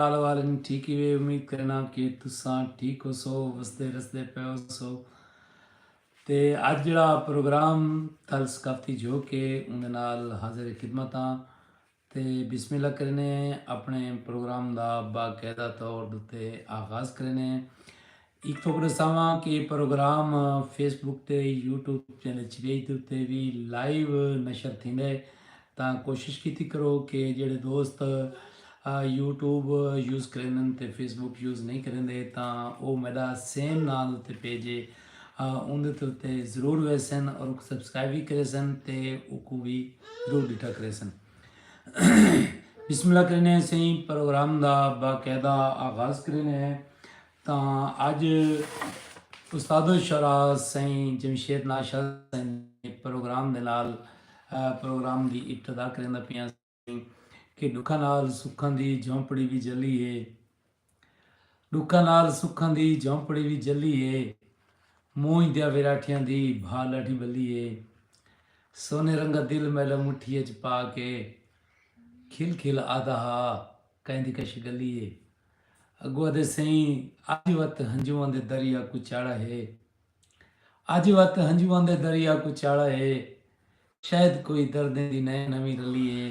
حال احوال اجوں ٹھیک ہیوے امید کریناں کہ تساں ٹھیک ہوسو وسدے رسدے پئے ہوسو تے اج جڑا پروگرام تھل ثقافتی جھوک ہے اوندے نال حاضر خدمت ہاں تے بسم اللہ کرینے اپنے پروگرام دا باقاعدہ طور تے آغاز کرینے ہک تھوک ݙساواں کہ اے پروگرام فیس بک تے یوٹیوب چینل چریج دے اتے وی لائیو نشر تھیندے تاں کوشش کیتی کرو کہ جیڑھے دوست یوٹیوب یوز کریندن تے فیس بک یوز نئیں کریندے تاں او میݙا سیم ناں دے اتے پیج اے اوندے تے اتے ضرور ویسن اور اوکوں سبسکرائب وی کریسن تے اوکوں وی ضرور ݙٹھا کریسن۔ بسم اللہ کریندے ہیں سئیں پروگرام دا باقاعدہ آغاز کریندے ہیں۔ تاں اج استاد الشعراء سئیں جمشید ناز شاہ سئیں دے پروگرام دے نال پروگرام دی ابتدا کریندا پیاں سئیں کہ ݙکھاں نال سکھاں دی جھونپڑی وی جھلی ہے ݙکھاں نال سکھاں دی جھونپڑی وی جھلی ہے مونجھ دیاں ویراٹھیاں دی بھا ݙاڈھی ٻلی ہے سونے رنگا دل میݙا مٹھی اچ پا کے کھل کھل آہدا ہا کئیں دی کش ڳلی ہے۔ اگو ادے سئیں اج وت ہنجواں دے دریا کوں چاڑھا ہے اج وت ہنجواں دے دریا کوں چاڑھا ہے شاید کوئی دردیں دی نئیں نویں رلی ہے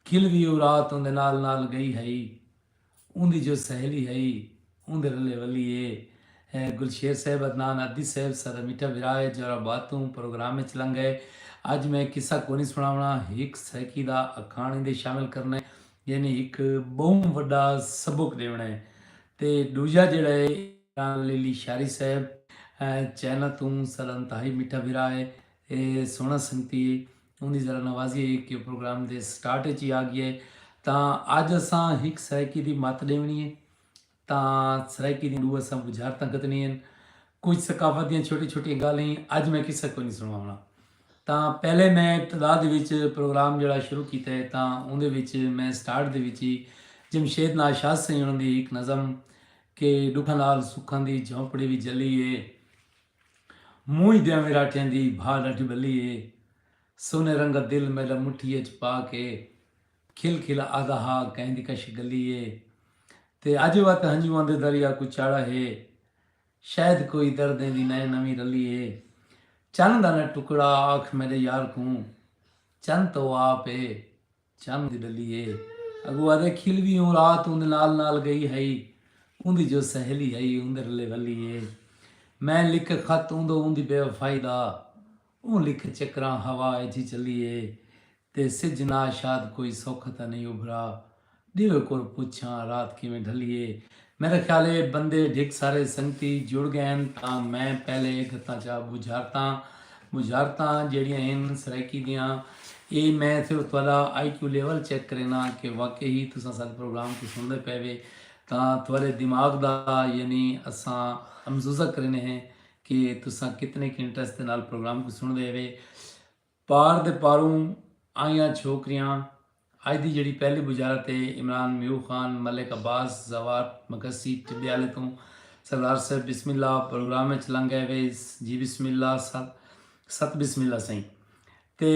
کھل وی او رات اوندے نال نال گئی ہئی اوندی جو سہیلی ہئی اوندے رلے ولی ہے گلشیر صاحب عدنان عدی صاحب ساڈا میٹھا بھرا ہے جورا باد توں پروگرام وچ لنگئے اج میں قصہ کونی سناونا ہک سرکی دا اکھاݨ ایندے شامل کرنا ہے یعنی ہک بہوں وڈا سبق ڈیونڑا ہے تے ڈوجا جیڑا ہے عمران علی لشاری صاحب چائنا توں ساڈا انتہائی میٹھا بھرا ہے اے سوہنا سنگتی ہے اوں دی ذرا نوازی ہے کہ پروگرام دے سٹارٹ اچ ہی آ گیا ہے تاں اج اساں ہک سرائیکی دی مت ڈیونڑی ہے۔ تاں سرائیکی دیاں ݙو اساں ٻجھارتاں گھتنی ہن۔ کجھ ثقافت دیاں چھوٹی چھوٹیاں ڳالھ ہین۔ اڄ میں قصہ کوئی نی سݨواوݨا۔ تاں پہلے میں ابتدا دے وچ پروگرام جیڑھا شروع کیتا ہے تاں اوندے وچ میں سٹارٹ دے وچ ہی جمشید ناشاد سئیں ہوݨاں دی ہک نظم کہ ݙکھاں نال سکھاں دی جھونپڑی وی جلی ہے۔ مونجھ دیاں وراٹھیاں دی بھا ݙاڈھی ٻلی ہے۔ سونے رنگا دل میݙا مٹھی اچ پا کے۔ کھل کھل آہدا ہا کہیں دی کشی گلی اے تے اج وت ہنجواں دے دریا کوں چاڑھا ہے شاید کوئی دردیں دی نئیں نویں رلی اے چن دا نہ ٹکڑا آکھ میڈے یار کوں چن تاں او آپ اے چن دی ڈلی اے اگو آہدے کھل وی اوں رات اوندے نال نال گئی ہئی اوندی جو سہیلی ہئی اوندے رلے ولی اے میں لکھ خط اوندو اوندی بے وفائی دا اوں لکھ چکراں ہوا اچ چلی اے تے سجھ نا شاد کوئی سوکھ تاں نئیں ابھرا ڈیوے کور پچھاں رات کیویں ڈھلی اے میرا خیال اے بندے ڈھک سارے سنگتی جڑ گئین تاں میں پہلے گھتاں چا بجھارتاں بجھارتاں جیڑیاں ہن سرائیکی دیاں اے میں صرف تہاڈا آئی کیو لیول چیک کرینداں کہ واقعی تساں ساڈے پروگرام کوں سنڑدے پئے وے تاں تہاڈے دماغ دا یعنی اساں امزوزہ کریندے ہیں کہ تساں کتنے کے انٹرسٹ دے نال پروگرام کوں سن دے ہوے پار دے پاروں آئیاں چھوکریاں اج دی جڑی پہلی بجارت ہے عمران میو خان ملک عباس زوار مگسی ٹبیالے توں سردار صاحب بسم اللہ پروگرام اچ لنگ گئے ہوے جی بسم اللہ ست ست بسم اللہ سائیں تے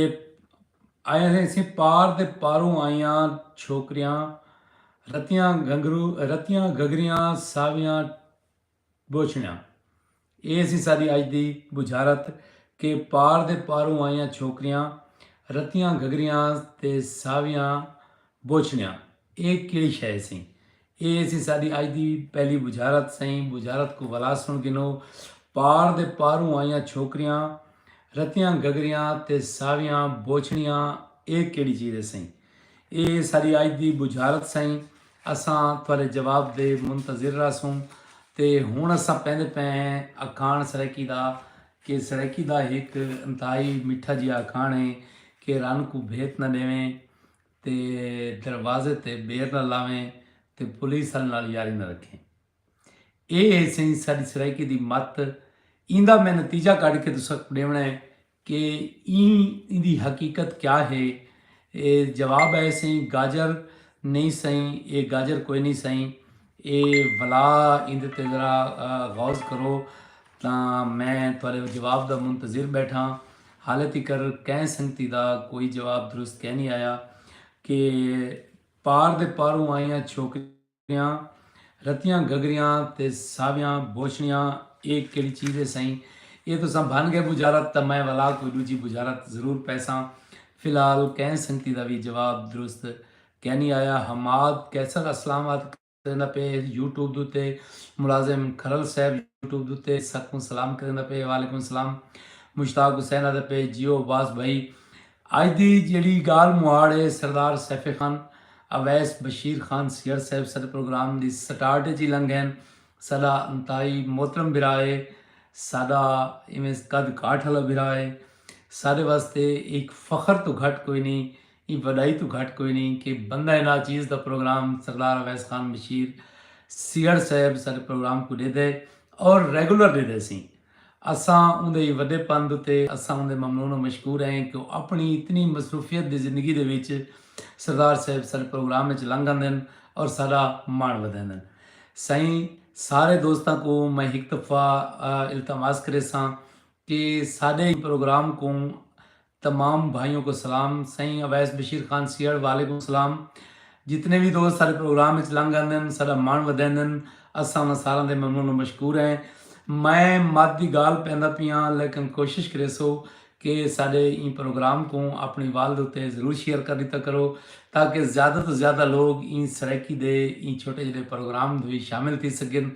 آئیاں سائیں سی پار دے پاروں آئیاں چھوکریاں رتیاں گھنگرو رتیاں گھگریاں ساویاں بوچھڑیاں۔ ایہ سی ساݙی اڄ دی بجھارت کہ پار دے پاروں آئیاں چھوکریاں، رتیاں گھگھریاں تے ساویاں بوچھڑیاں ایہ کیڑھی شئے ہیسی۔ ایہ سی ساݙی اڄ دی پہلی بجھارت سئیں بجھارت کوں ولا سݨ گھنو پار دے پاروں آئیاں چھوکریاں، رتیاں گھگھریاں تے ساویاں بوچھڑیاں ایہ کیڑھی چیز ہے سئیں۔ اے ساری آج دی بجھارت سئیں اساں تہاڈے جواب دے منتظر رہسوں تے ہن اساں پیندے پئے ہیں اکھاݨ سرائیکی دا کہ سرائیکی دا ہک انتہائی مٹھا جیہا اکھاݨ ہے کہ رن کوں بھیت نہ ݙیویں تے دروازے تے بیر نہ لاویں تے پولیس آلیں نال یاری نہ رکھیں اے ہے سئیں ساݙی سرائیکی دی مت ایندا میں نتیجہ کڈھ کے تساکوں ݙیوݨا ہے کہ ایں ایندی حقیقت کیا ہے؟ اے جواب اے سئیں گاجر نئیں سئیں اے گاجر کوئے نئیں سئیں اے ولا ایندے تے ذرا غوض کرو تاں میں تہاڈے جواب دا منتظر بیٹھاں حالے تیکر کئیں سنگتی دا کوئی جواب درست کئے نئیں آیا کہ پار دے پاروں آئیاں چھوکریاں کریاں رتیاں گھگریاں تے ساویاں بوچھڑیاں اے کیڑی چیز اے سئیں اے تساں بھن گئے بجارت تاں میں ولا کوئی ڈوجھی بجارت ضرور پیساں فی الحال کہیں سنگتی دا وی جواب درست کینی آیا حماد قیصر اسلام آد کریندا پئے یوٹیوب دوتے ملازم کھرل صاحب یوٹیوب دوتے سکوں سلام کریندا پئے وعلیکم السلام مشتاق حسین آد پئے جیو عباس بھائی اج دی جیڑھی گالھ مہاڑ اے سردار سیف خان اویس بشیر خان سیہڑ صاحب ساڈے پروگرام دی سٹارٹ اچ ہی لنگھ ہن ساڈا انتہائی محترم بھرا اے ساڈا ایویں قد کاٹھ آلا بھرا اے ساڈے واسطے ہک فخر توں گھٹ کوئی نی ایں وڈائی توں گھٹ کوئی نی کہ بندہ ناچیز دا پروگرام سردار اویس خان بشیر سیہڑ صاحب ساڈے پروگرام کوں ڈیدے اور ریگولر ڈیدے سی۔ اساں اوندے وڈے پن اتے اساں اوندے ممنون و مشکور ہیں کہ او اپنی اتنی مصروفیت دی زندگی دے وچ سردار صاحب ساڈے پروگرام وچ لنگ آندن اور ساڈا مان ودھیندن۔ سائیں سارے دوستاں کوں میں ہک دفعہ التماس کریساں کہ ساڈے پروگرام کوں تمام بھائیوں کو سلام سائیں اویس بشیر خان سیہڑ وعلیکم السلام جتنے وی دوست سارے پروگرام وچ لنگ آندن ساڈا ماݨ ودیندن اساں انہاں ساراں دے ممنون و مشکور ہیں میں مد دی گالھ پیندا پیاں لیکن کوشش کریسو کہ ساڈے ایں پروگرام کوں اپݨی والد اتے ضرور شیئر کر ݙیتا کرو تاکہ زیادہ توں زیادہ لوگ ایں سرائیکی دے ایں چھوٹے جیڈے پروگرام وچ شامل تھی سگن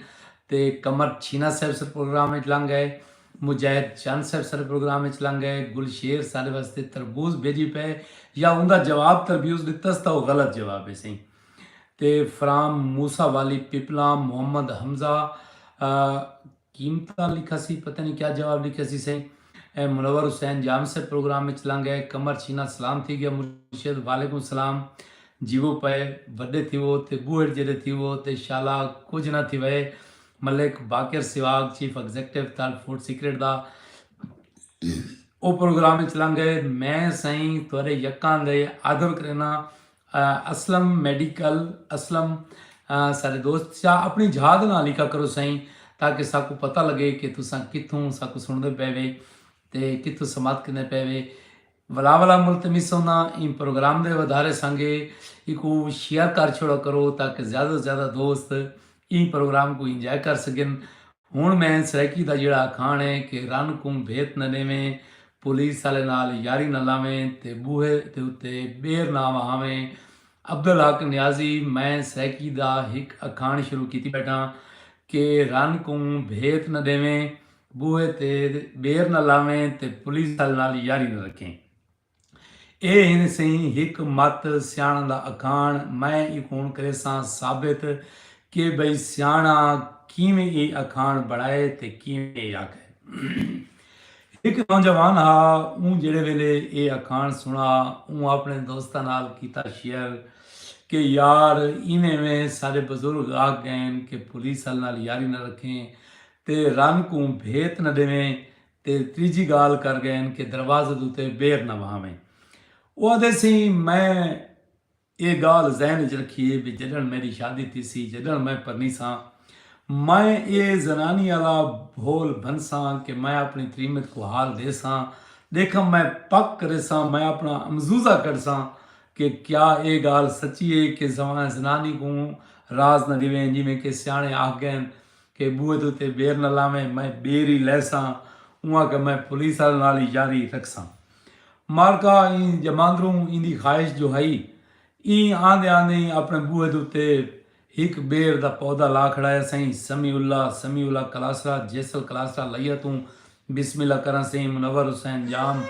تے کمر چھینا صاحب سر پروگرام وچ لنگ آئے مجاہد چند صاحب ساڈے پروگرام اچ لنگ گئے، گل شیر ساڈے واسطے تربوز بھیجی پئے یا اوندا جواب تربیوز ڈتس تاں او غلط جواب ہے سئیں تے فرام موسی والی پیپلام محمد حمزہ قیمتاں لکھا سی پتہ نہیں کیا جواب لکھا سی سئیں منور حسین جام صاحب پروگرام اچ لنگ گئے، قمر چھینا سلام تھی گیا مرشد وعلیکم السلام جیوو پئے وڈے تھیوو تے بوہڑ جیڈے تھیوو تے شالا کجھ نہ تھیوئے ملک باقر سواگ chief executive Thal food secret دا او پروگرام اچ لنگ گئے میں سئیں تہاڈے یکاں دے آدر کرینا اسلم میڈیکل اسلم سارے دوست چا اپنی جھا دے نال لکھا کرو سئیں تاکہ ساکو پتہ لگے کہ تساں کتھوں ساکو سنڑدے پے وے تے کتھوں سماعت کریندے پے وے ولا ولا ملتمسوں نا ایں پروگرام دے ودھارے سانگے ایکو شیئر کر چھوڑا کرو تاکہ زیادہ تو زیادہ دوست ایں پروگرام کو انجوائے کر سگن ہن میں سرائیکی دا جیڑا اکھاݨ ہے کہ رن کوں بھیت نہ ݙیویں پولیس آلے نال یاری نہ لاویں تے ٻوہے دے اتے ٻیر نہ وہاویں عبدالحق نیازی میں سرائیکی دا ہک اکھاݨ شروع کیتی ٻیٹھاں کہ رن کوں بھیت نہ ݙیویں بوہے تے ٻیر نہ لاویں تے پولیس آل نال یاری نہ رکھیں۔ اے ہن سئیں ہک مت سیاݨاں دا اکھاݨ میں ایکوں کریساں ثابت کہ بھئی سیاݨاں کیویں اے اکھاݨ بݨائے تے کیویں اے آکھئے۔ ہک نوجوان ہا اوں جیڑھے ویلے اے اکھاݨ سݨا اوں آپݨے دوستاں نال کیتا شیئر کہ یار ایویں ایویں ساݙے بزرگ آکھ ڳئین کہ پولیس آل نال یاری نہ رکھیں تے رن کوں بھیت نہ ݙیویں تے تریجھی ڳالھ کر ڳئین کہ دروازے دے اتے بیر نہ وہاویں۔ او آدھے سئیں میں اے ڳالھ ذہن اچ رکھی اے بھئی جݙݨ میݙی شادی تھیسی جݙݨ میں پرنیساں میں اے زنانی آلا بھول بھنساں کہ میں آپݨی تریمت کوں حال ݙیساں ݙیکھاں میں پک کریساں میں آپݨا امزوزہ کڈھساں کہ کیا اے ڳالھ سچی اے کہ زنانی کوں راز نہ ݙیویں جیویں کہ سیاݨے آکھ ڳئین کہ بوئے دے اتے بیر نہ لاویں میں بیر ای لیساں اوں آکھیا میں پولیس آلیاں نال ای یاری رکھساں مالکا ایں جماندروں ایندی خواہش جو ہئی ایں آندے آندے ای اپنے بوئے دے اتے ہک بیر دا پودا لا کھڑایا سئیں سمیع اللہ سمیع اللہ کلاسرا جیسل کلاسرا لئیا توں بسم اللہ کراں سئیں منور حسین ڄام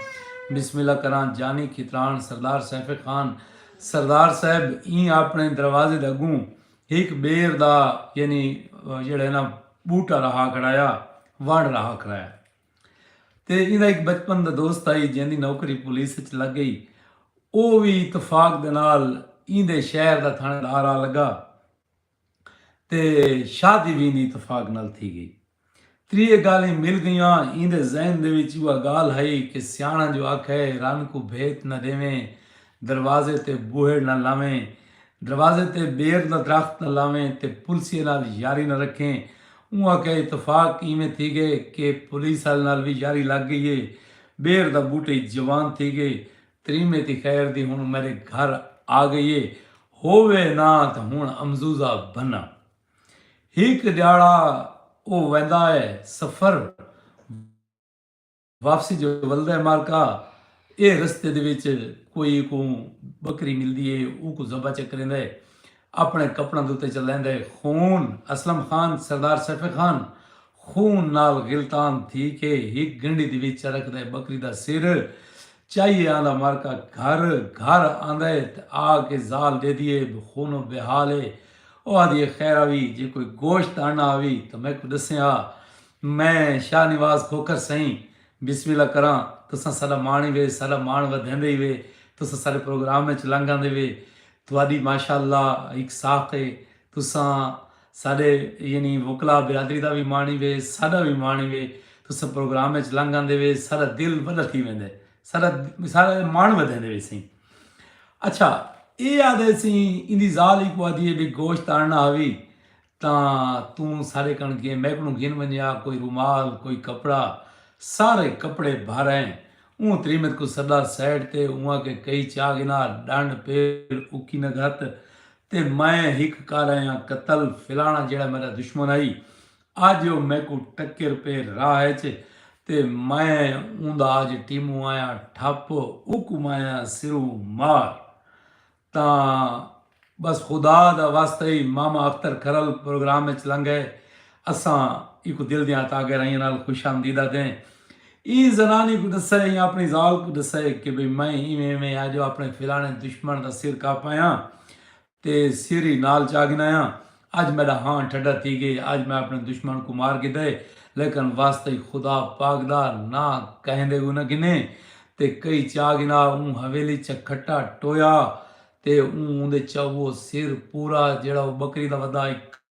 بسم اللہ کراں جانی کھتران سردار سیف خان سردار صاحب ایں اپنے دروازے دے اگوں ہک ٻیر دا یعنی جیڑا ہے نا بوٹا رہا کھڑایا وڑ رہا کھڑایا تے ایندا ایک بچپن دا دوست آئی جیندی نوکری پولیس وچ لگ گئی او وی اتفاق دے نال ایندے شہر دا تھانے دار آ لگا تے شادی وی ایندی اتفاق نال تھی گئی تریہہ گالھیں مل گئیاں۔ ایندے ذہن دے وچ اوہا گالھ ہئی کہ سیاݨاں جو آکھئے رن کوں بھیت نہ ݙیویں، دروازے تے بوہڑ نہ لاویں، دروازے تے ٻیر دا درخت نہ لاویں تے پلسیے نال یاری نہ رکھیں۔ اوہاں کئے اتفاق ایویں تھی ڳئے کہ پولیس آلے نال وی یاری لڳ ڳئی اے۔ ٻیر دا ٻوٹی جوان تھی ڳئی۔ تریمے دی خیر دی ہݨ میݙے گھر آ ڳئی اے۔ ہووے نہ تاں ہݨ امزوزہ بھناں۔ ہک ڈیہاڑا او ویندا اے سفر واپسی جو ولدا اے مارکا اے رستے دے وچ کوئی کوں بکری ملدی اے اوکوں ذبح چکریندا اے اپنے کپڑاں دے اتے چلیندا اے خون اسلم خان سردار سیف خان خون نال غلطان تھی کے ہک گنڈی دی وچ چرکدا ہے بکری دا سر چائیے آندا مرکا گھر گھر آندا ہے تے آ کے زال ڈیدھی ہے بھئی خونو بے حال ہے او آدھی ہے خیر آوی جے کوئی گوشت آننا آوی تاں میکوں ڈسیں ہا میں شاہ نواز کھوکھر سئیں بسم اللہ کراں تساں ساڈا مان ہی وے ساڈا مان ودھیندے ہی وے تساں ساڈے پروگرام وچ لنگ آندے وے تہاڈی ماشاءاللہ ہک ساخت ہے۔ تساں ساڈے یعنی وکلا برادری دا وی مانی وے ساڈا وی مانی وے تساں پروگرام اچ لنگ آندے وے ساڈا دل وڈا تھی ویندے ساڈا ساڈا مان ودھیندے وے سیں اچھا اے آدھے سیں ایندی زال ہی کو آدھی ہے بے گوشت آننا ہوی تاں توں ساڈے کن گھن میکڑوں گھن ونجا کوئی رومال کوئی کپڑا سارے کپڑے بھر ہیں اوں تریمت کو سڈا سیڈ تے اوں آکھے کئی چاہ گھنا ڈنڈ پیر اکی نگھت تے میں ہک کارایاں قتل فلانا جیڑھا میڈا دشمن ہئی اج او میکوں ٹکر پے راہ اچ تے میں اوندا اج ٹیموں آیاں ٹھپ اوکوں آیاں سروں مار تاں بس خدا دا واسطہ ہئی ماما اختر کھرل پروگرام اچ لنگئے اساں ایکوں دل دیاں عطا گہرائیاں نال خوش آمدید آدھیں۔ ایں زنانی کوں ڈسے یا اپنی زال کوں ڈسے کہ بھئی میں ایویں ایویں آ جو اپنے فلانے دشمن دا سر کاپایاں تے سر ای نال چا گھنایاں۔ اج میڈا ہاں ٹھڈا تھی گئے۔ اج میں اپنے دشمن کوں مار گھدئے۔ لیکن واسطہ خدا پاک دا نہ کہندے کوں نہ گھنے تے کئی چا گھنا اوں حویلی چا کھٹا ٹویا تے اوں اوندے چا وہ سر پورا جیڑھا وہ بکری دا ودا ہک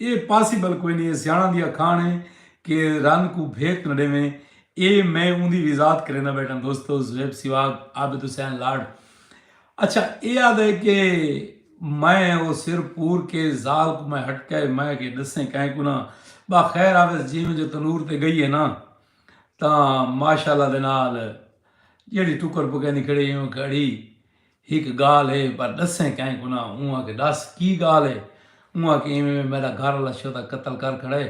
اے پاسیبل کوئی نی اے سیاݨاں دی اکھاݨ اے کہ رن کوں بھیت نہ ݙیویں اے میں اوندی وضاحت کریندا ٻیٹھاں دوستو زویب سیواگ عابد حسین لاڑ اچھا اے آہدا اے کہ میں او سر پور کے ذال کوں میں ہٹکا اے میں کے ݙسیں کائیں کوں نہ ٻا خیر آویس جیویں جو تنور تے ڳئی اے نہ تاں ماشاءاللہ دے نال جیڑھی ٹکر پکیندی کھڑی اے اوں کھڑی ہک گالھ ہے پر ڈسیں کائیں کو نہ اوں آکھے ڈس کی گالھ ہے اوں آکھے ایویں ایویں میڈا گھر آلا شودا قتل کر کھڑے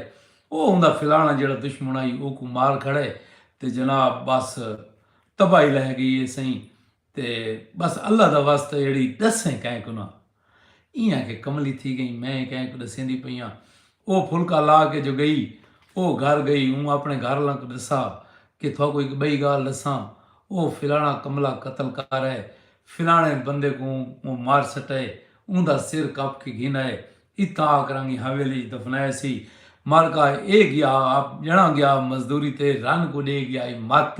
او اوندا فلانا جیڑا دشمن آئی اوکوں مار کھڑے تے جناب بس تباہی لہہ گئی ہے سئیں تے بس اللہ دا واسطہ ایڑی ڈسیں کائیں کو نہ۔ ایں آ کے کملی تھی گئیں میں کہیں کوں ڈسیندی پئی آں او پھلکا لا کے جو گئی او گھر گئی اوں اپنے گھر آلاں کوں ڈسا کے تھاکوں ہک بئی گالھ ڈساں او فلانا کملا قتل کر آئے فلانے بندے کوں اوں مار سٹائے اوندا سر کپ کے گھن آئے اتھاں آ کرانگی حویلی اچ دفنایا سی مالکا اے گیا آپ جنڑاں گیا مزدوری تے رن کوں ڈے گیا اے مت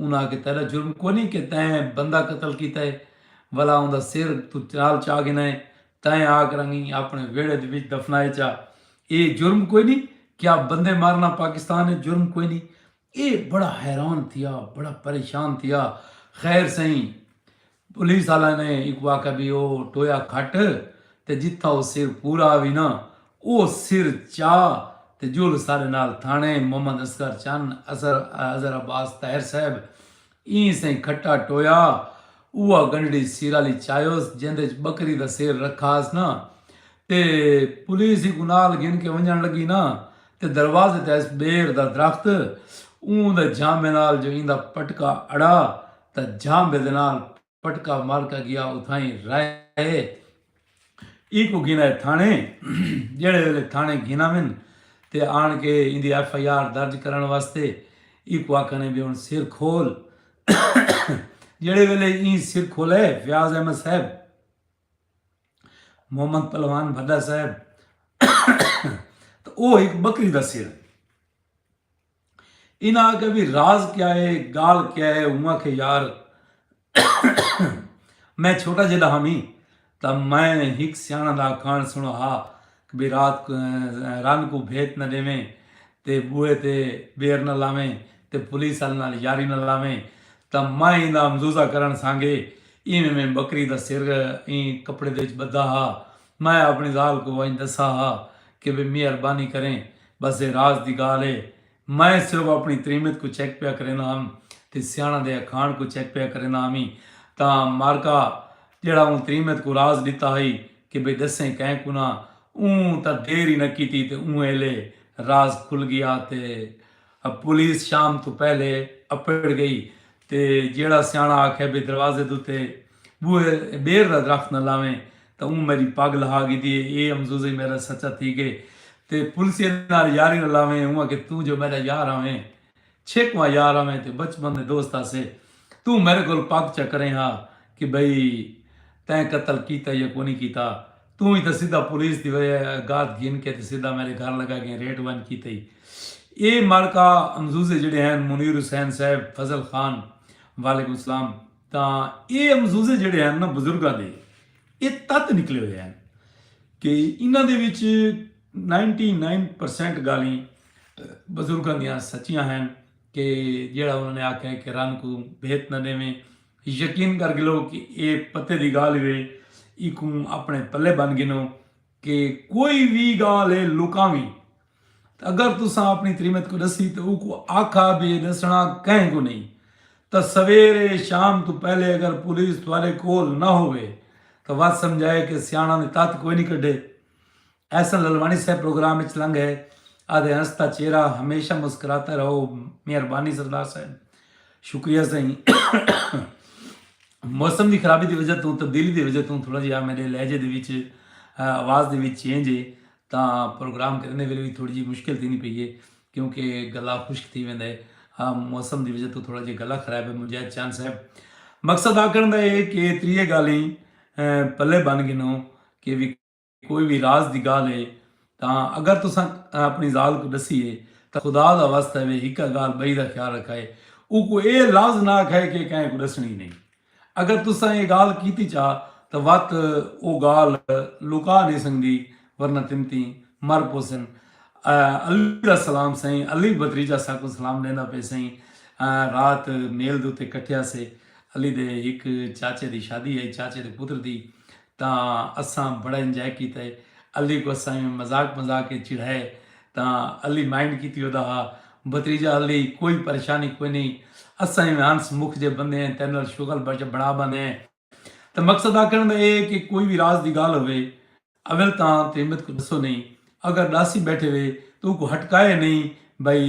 انہاں آکھیا تیڈا جرم کونی کہ تیں بندہ قتل کیتا ہے ولا اوندا سر تو چال چا گھنا ہے تیں آکھ رنگی اپنے ویڑے دے وچ دفنائے چا اے جرم کوئی نہیں کیا بندے مارنا پاکستان ہے جرم کوئی نہیں اے بڑا حیران تھیا بڑا پریشان تھیا خیر سہی پولیس آلیاں نے اینکوں آکھیا بی او ٹویا کھٹ تے جتھاں او سر پورا آوی نا او سر چا تے جل ساڈے نال تھانے محمد اصغر چن اظہر عباس طاہر صاحب ایں سئیں کھٹا ٹویا اوہا گنڈڑی سیرالی چایوس جیندے اچ بکری دا سر رکھاس نا تے پولیس اینکوں نال گھن کے ونجن لگی نا تے دروازے تے آئس بیر دا درخت اوں دے جھامے نال جو ایندا پٹکا اڑا تاں جاں بدنال پٹکا مار کا گیا اتھائیں رائے اے ایکوں گھنائے تھانے جیڑھے ویلے تھانے گھناون تے آن کے ایندی ایف آئی آر درج کرن واسطے ایکوں آکھنے بھی ہن سر کھول جیڑھے ویلے این سر کھولے فیاض احمد صاحب محمد پلوان بھڈا صاحب تو او ایک بکری دا سر انہاں آکھیا وی راز کیا ہے گالھ کیا ہے اوں آکھیا یار میں چھوٹا جیڈا ہاں وی تاں میں ہک سیانڑاں دا اکھاݨ سنڑا ہا وی رات رن کوں بھیت نہ ڈیویں تے بوئے تے بیر نہ لاویں تے پولیس آلے نال یاری نہ لاویں تاں میں ایندا مزوزہ کرݨ سانگے ایویں میں بکری دا سر ایں کپڑے دے وچ بدھا ہا۔ میں اپݨی ذال کوں ونڄ ݙسا ہا کہ وی مہربانی کریں ٻس اے راز دی ڳالھ اے۔ میں صرف اپݨی تریمت کوں چیک پیا کریندا ہم تے سیاݨاں دے اکھاݨ کوں چیک پیا کریندا ہمی تاں مارکا جیڑھا اوں تریمت کوں راز ݙتا ہئی کہ وی ݙسیں کہیں کوں نہ اوں تاں دیر ای نہ کیتی تے اوں ایلے راز کھل ڳیا تے ہ پولیس شام توں پہلے اپڑ گئی تے جیہڑا سیاݨا آکھے بھئی دروازے دے اتے بوہے ٻیر دا درخت نہ لاویں تاں اوں میݙی پڳ لہا گھدی اے اے امزوزئی میݙا سچا تھی ڳئے تے پولیسے نال یاری نہ لاویں اوں آکھے توں جو میݙا یار آویں چھک واں یار آویں تے بچپن دے دوست آسے توں میݙے کول پڳ چا کریں ہا کہ بھئی تیں قتل کیتا یا کونی کیتا توں ہی تاں سدھا پولیس دی گاد گھن کے تے سدھا میڈے گھر لگا گئیں ریٹ ونج کیتے ہی اے مارکا امزوزے جیڑھے ہین منیر حسین صاحب فضل خان وعلیکم السلام تاں اے امزوزے جیڑھے ہین نا بزرگاں دے اے تت نکلے ہوئے ہین کہ انہاں دے وچ نائنٹی نائن پرسنٹ گالیں بزرگاں دیاں سچیاں ہین کہ جیڑھا انہاں نے آکھیا کہ رن کوں بھیت نہ ڈیویں۔ یقین کر گھلو کہ اے پتے دی گالھ وے ایکوں اپنے پلے بن گھنو کہ کوئی وی گالھ اے لکاویں تے اگر تساں اپنی تریمت کوں ڈسی تے اوکوں آکھا بی اے ڈسنڑا کہیں کوں نئیں تاں سویرے شام توں پہلے اگر پولیس تہاڈے کول نہ ہووے تاں وت سمجھائے کہ سیانڑاں نے تت کوئی نئیں کڈھے۔ احسن للواݨی صاحب پروگرام وچ لنگ ہے آدھے ہنستا چہرہ ہمیشہ مسکراتا رہو مہربانی سردار صاحب شکریہ سائیں موسم دی خرابی دی وجہ توں تبدیلی دی وجہ توں تھوڑا جہا میرے لہجے دے وچ آواز دے وچ چینج ہے تاں پروگرام کرنے ویلے بھی تھوڑی جی مشکل تھی نہیں پئی ہے کیونکہ گلا خشک تھی ویندا ہے موسم دی وجہ تو تھوڑا جہا گلا خراب ہے مجاہد چاند صاحب مقصد آکھن دا ہے کہ تریے گالیں پلے بن گنوں کہ کوئی وی راز دی گالھ ہے تاں اگر تساں اپݨی ذال کوں ݙسی ہے تاں خدا دا واسطہ وے ہکا گالھ ٻئی دا خیال رکھائے اوکوں اے لفظ نہ آکھائے کہ اے کہیں کوں ݙسݨی نئیں اگر تساں اے گالھ کیتی چا تاں وت او گالھ لکا نئیں سڳدی ورنہ تمتیں مر پوسن علی دا سلام سئیں علی بھتریجہ ساکوں سلام ݙیندا پئے سئیں رات میل دے اتے کٹھیا سے علی دے ہک چاچے دی شادی ہئی چاچے دے پتر دی تاں اساں بڑا انجائے کیتا ہے۔ علی کوں اساں ایویں مذاق مذاق اچ چڑھایا ہے تاں علی مائنڈ کیتی ہودا ہا۔ بھتریجا علی کوئی پریشانی کوئی نئیں اساں ایویں ہنس مکھ جئے بندے ہیں تیڈے نال شغل بنڑا بندے ہیں۔ تاں مقصد آکھنڑ دا ایہ ہے کہ کوئی وی راز دی گالھ ہووے اول تاں تریمت کوں ڈسو نئیں اگر ڈاسی بیٹھے وے تاں اوکوں ہٹکائے نئیں بھئی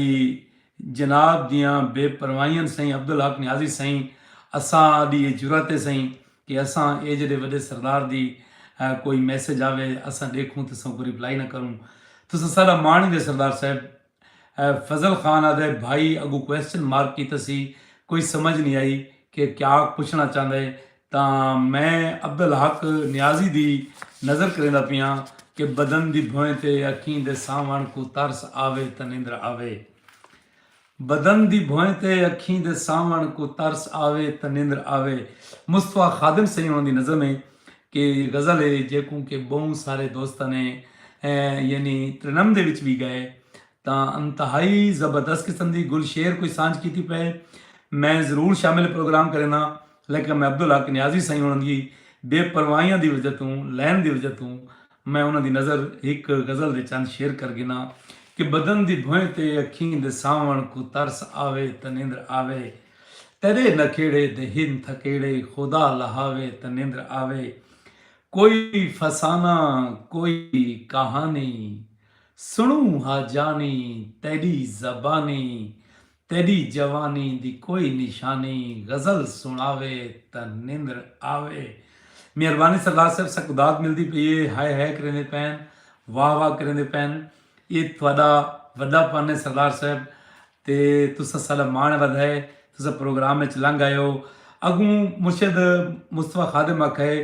جناب دیاں بے پروائیاں سئیں عبدالحق نیازی سئیں اساں آڈی اے جرات اے سئیں کہ اساں اے جڈے وڈے سردار دی کوئی میسج آوے اساں ڈیکھوں تے سانکوں ریپلائی نہ کروں تساں ساڈا مان ہی دے سردار صاحب فضل خان آدھے بھائی اگوں کوسچن مارک کیتا سی کوئی سمجھ نی آئی کہ کیاک پچھنا چاہندے تاں میں عبدالحق نیازی دی نظر کریندا پیاں کہ بدن دی بھوئیں تے اکھیں دے سانوݨ کوں ترس آوے تاں نندر آوے۔ بدن دی بھوئیں تے اکھیں دے سانوݨ کوں ترس آوے تاں نندر آوے۔ مصطفی خادم سئیں ہوݨاں دی نظم ہے کہ غزل ہے جیکوں کہ ٻہوں سارے دوستاں نے یعنی ترنمدے وچ وی ڳائے تاں انتہائی زبردست قسم دی گل شعر کوں سانجھ کیتی پئے۔ میں ضرور شامل پروگرام کرینداں۔ لیکن میں عبدالحق نیازی سئیں ہوݨاں دی بے پرواہیاں دی وجہ توں لین دی وجہ توں میں انہاں دی نظر ہک غزل دے چند شعر کر گھناں کہ بدن دی بھوئیں تے اکھیں دے ساوݨ کوں ترس آوے تاں نیندر آوے تیݙے نکھیڑے دے ہن تھکیڑے خدا لہاوے تاں نیندر آوے کوئی فسانہ کوئی کہانی سݨوں ہا جانی تیݙی زبانی تیݙی جوانی دی کوئی نشانی غزل سݨاوے تاں نندر آوے مہربانی سردار صاحب سک داد ملدی پئی اے ہائے ہائے کریندے پئن واہ واہ کریندے پئن اے تہاݙا وݙا پن اے سردار صاحب تے تساں ساݙا ماݨ ودھائے تساں پروگرام اچ لنگھ آئے ہو اڳوں مرشد مصطفی خادم آکھائے